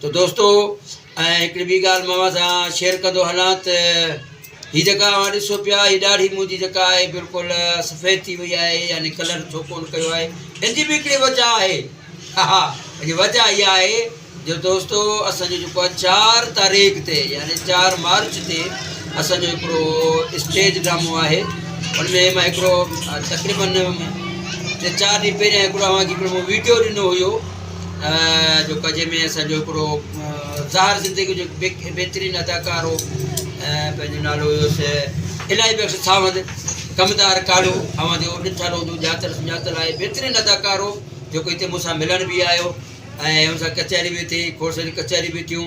ته دوستو ۽ هڪڙي ٻي ڳالهه مان اوهان سان شيئر ڪندو هلان ته هي جيڪا اوهان ڏسو پيا هي ڏاڙهي منهنجي جيڪا آهي بلڪل سفيد ٿي وئي آهي يعني ڪلر ڇو ڪونه ڪيو آهي هن جي به هڪڙي وجه آهي ها ها هن جي وجه اها آهي جو دوستو اسان جو جيڪو آهي چار تاريخ تي يعني چار مارچ تي اسان جو هڪڙو اسٽيج ڊرامو آهي ان ۾ مان هڪڙو تقريبن ٽي چار ڏينهن پهريان هڪڙو اوهان کي هڪڙو ويڊيو ڏنو هيو جو ڪجي ۾ اسان جو هڪڙو ظاهر زندگي جو بهترين اداڪار هو پنهنجو نالو هيوس الائي بخش ساوند ڪمدار ڪاڙو اوهان جو ڏٺل هوندو ڄاتل سڃاتل آهي بهترين اداڪار هو جيڪو هتي مون سان ملڻ به آيو ۽ هن سان ڪچهري به ٿي کورس جي ڪچهري به ٿيون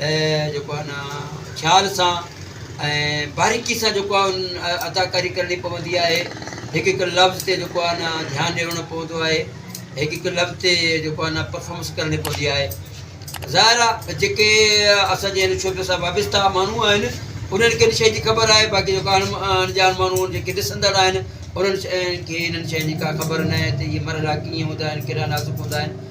جيڪو آهي نه خيال سان ۽ باريڪي سان جيڪو آهي ان اداڪاري ڪرڻي پوندي آهي هڪ هڪ لفظ تي جيڪو آهي نه ڌيان ڏيڻو پوندو آهي هڪ هڪ لفظ تي جيڪو آهي نه پرفامنس ڪرڻي پوندي آهي ظاهر آهي جيڪي اسانجي هن شعبي سان وابستا ماڻهو آهن انهن کي ان شي جي خبر آهي باقي جيڪو اڻ اڻڄاڻ ماڻهو جيڪي ڏسندڙ آهن انهن کي انهن شين جي ڪا خبر ناهي ته هي مرحلا ڪيئن هوندا آهن ڪهڙا نازڪ هوندا آهن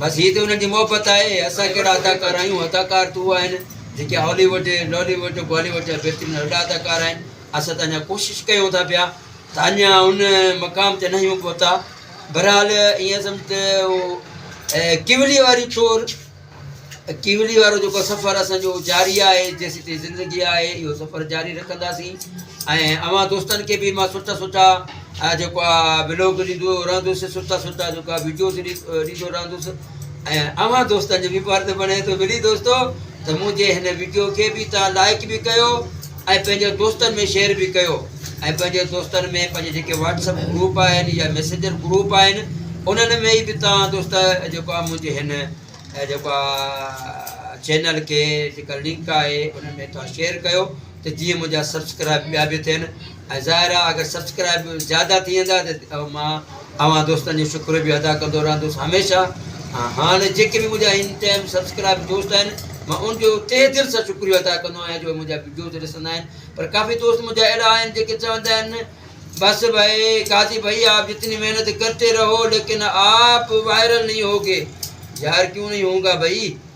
بس هي ته انهن جي محبت آهي، اسان ڪهڙا اداڪار آهيون، اداڪار ته اهي آهن جيڪي Hollywood, Lollywood, Bollywood جا بهترين وڏا اداڪار آهن، اسان ته اڃا ڪوشش ڪيون ٿا پيا ته اڃا ان مقام تي ناهيون پهتا، بهرحال ائين سمجھ ته اهو ڪيولي واري ٽور، ڪيولي وارو جيڪو سفر اسان جو جاري آهي، جيسين تائين زندگي آهي اهو سفر جاري رکنداسين ۽ اوهان دوستن کي به مان سٺا سٺا آء جيڪو آ بلاگ ڏيندو رهندس سٺا سٺا جيڪو آ وڊيوز ڏيندو رهندس ۽ اوهان دوستن جو به فرض بڻي ٿو ولي دوستو ته منهنجي هن وڊيو کي به تان لائڪ به ڪيو ۽ پنهنجو دوستن ۾ شيئر به ڪيو ۽ پنهنجي دوستن ۾ پنهنجي جيڪي واٽس اپ گروپ آهن يا ميسنجر گروپ آهن انهن ۾ به تان دوست جيڪو آ منهنجي هن جيڪو آ چينل کي جيڪا لنڪ آهي انهن ۾ تان شيئر ڪيو ته جيئن منهنجا سبسڪرائب ٻيا به ٿين ۽ ظاهر آ اگر سبسڪرائب زياده ٿي ويندا ته مان اوهان دوستن جو شڪريو به ادا ڪندو رهندس هميشه ۽ هاڻ جيڪي به منهنجا ان ٽائيم سبسڪرائب دوست آهن مان ان جو تهه دل سان شڪريو ادا ڪندو آهيان جو منهنجا وڊيوز ڏسندا آهن پر ڪافي دوست منهنجا اهڙا آهن جيڪي چوندا آهن بس ڀائي قاضي ڀائي آپ جتني محنت ڪرتي رهو ليڪن آپ وائرل نهي هوگي يار ڪيون نهي هونگا ڀائي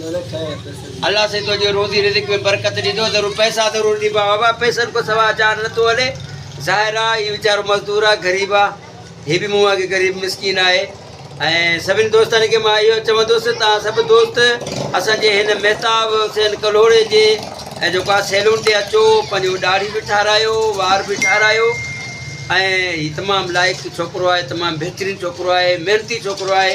الله سائين تنهنجي روزي رزق ۾ برڪت ڏيندو ضرور پئسا ضرور ڏيبا بابا پئسن کان سوا اچار نٿو هلي ظاهر آ هي ويچارو مزدور آ غريب آ هي به مون وانگي غريب مسڪين آهي ۽ سڀني دوستن کي مان اهو چوندوس تان سڀ دوست اسان جي هن مهتاب حسين ڪلهوڙي جي ۽ جو ڪا سيلون تي اچو پنهنجو ڏاڙهي به ٺارايو وار به ٺارايو ۽ هي تمام لائق ڇوڪرو آهي تمام بهترين ڇوڪرو آهي محنتي ڇوڪرو آهي